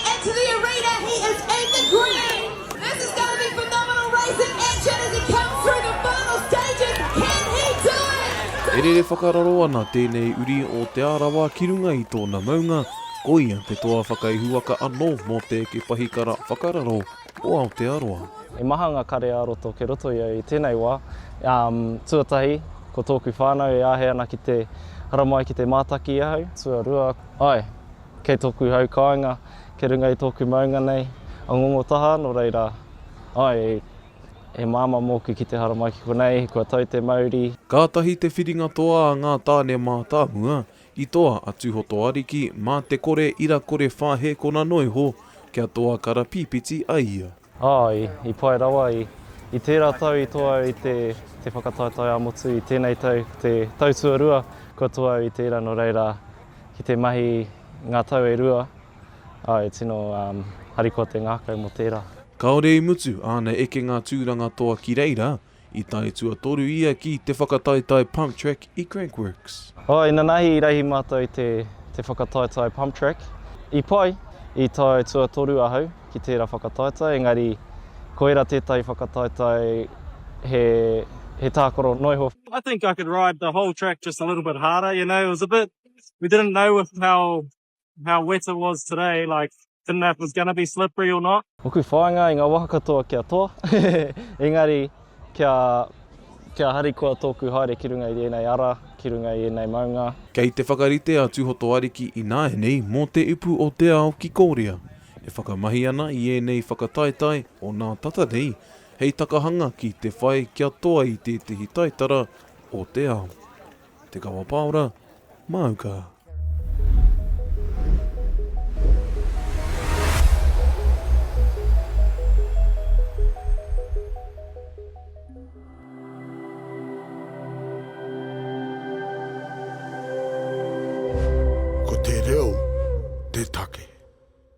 And to the arena, he is in the green! This is going to be phenomenal racing action as he comes through the final stages, can he do it? E rere whakararo ana tēnei uri o Te Arawa ki runga i tōna maunga, ko ia te toa whakaihuwaka anō mō te eke pahikara whakararo o Aotearoa. He maha nga kare-ā-roto ke roto i au i tenei wa, um, tuatahi, ko toku whanau e ahe ana ki te haramai ki te mātaki i ahau, tuarua, ae, Kei tōku hau kāinga, kei runga i tōku maunga nei, a Ngongotaha, nō reira, āe, he māmā mōku ki te haramai ki konei, kua tau te mauri. Kātahi te whiringa toa a ngā tāne mātāmua i toa a Tūhotoariki mā te kore ira kore whāhēkona noiho kia toa karapīpiti ai ia. Āe, i pai rawa. I, i tērā tau i toa au i te, te whakataetae ā-motu, i tēnei tau, te tau tuarua, kua toa au i tērā nō reira, ki te mahi ngā tau e rua, ā, e tino um, harikoa te ngākau mō tērā. Kāore i mutu āna ekenga tūranga toa ki reira, I tae tuatoru ia ki te whakataetae Pump Track i Crank Works. Oh, inanahi i rahi matou i te, te whakataetae Pump Track. I pai, i tae tuatoru ahau ki tera whakataetae, engari koira tetahi whakataetae he, he takoro noiho. I think I could ride the whole track just a little bit harder, you know, it was a bit, we didn't know with how how wet it was today, like, didn't know if it was going to be slippery or not. Oku whāinga i ngā waka katoa kia toa, engari kia, kia harikoa tōku haere ki runga i ēnei ara, ki runga i ēnei maunga. Kei te whakarite a Tūhoto Ariki ināianei mō Te Upu o te Ao ki Kōrea, e whakamahi ana i ēnei whakataetae o nā tata nei hei takahanga ki te whai kia toa i tētehi taitara o te ao. Te Kawa Paora, Māuka. Ko te reo te take.